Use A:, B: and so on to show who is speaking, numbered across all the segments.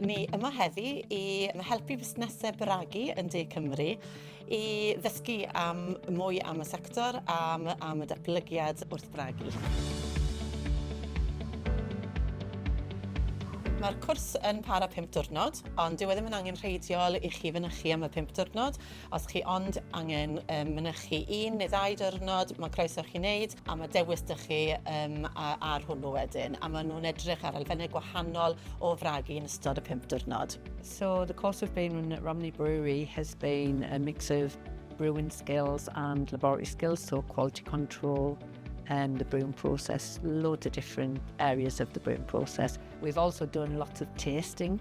A: Ni yma heddi i helpu busnesau bragu yn De Cymru i ddysgu am mwy am y sector, am, am y datblygiad wrth bragu. Mae'r cwrs yn para 5 diwrnod, ond dyw e ddim yn angenrheidiol i chi fynychu am y 5 diwrnod. Os chi ond angen um, mynychu un neu ddau dyrnod, mae croeso chi wneud, a mae dewis dych chi um, ar hwnnw wedyn. A maen nhw'n edrych ar elfennau gwahanol o fragu yn ystod y pump dyrnod. So the course we've
B: been at Romney Brewery has been a mix of brewing skills and laboratory skills, so quality control, um, the brewing process, loads of different areas of the brewing process. We've also done lots of tasting,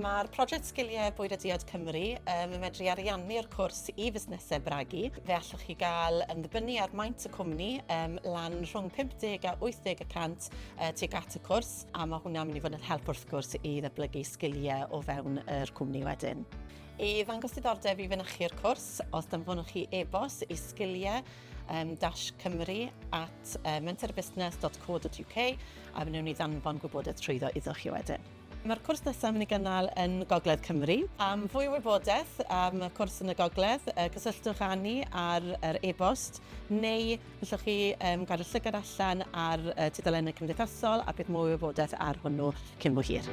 C: Mae'r Prosiect
A: Sgiliau Bwyd a Diod Cymru um, yn medru ariannu'r cwrs i fusnesau bragu. Fe allwch chi gael ymddibynnu ar maint y cwmni um, lan rhwng 50 a 80 y cant uh, tuag at y cwrs a mae hwnna'n mynd i fod yn help wrth gwrs i ddeblygu sgiliau o fewn yr cwmni wedyn. I ddangos diddordeb i fynychu'r cwrs, os danfonwch chi e-bos i sgiliau um, dash cymru at uh, mentorbusnes.co.uk a fe wnawn ni ddanfon gwybodaeth trwyddo iddo chi wedyn. Mae'r cwrs nesaf yn mynd i gynnal yn Gogledd Cymru. Am fwy o wybodaeth am y cwrs yn y Gogledd, cysylltwch â ni ar yr e-bost, neu gallwch chi gadw llygad allan ar tudalennau cymdeithasol a bydd mwy o wybodaeth ar hwnnw cyn bo hir.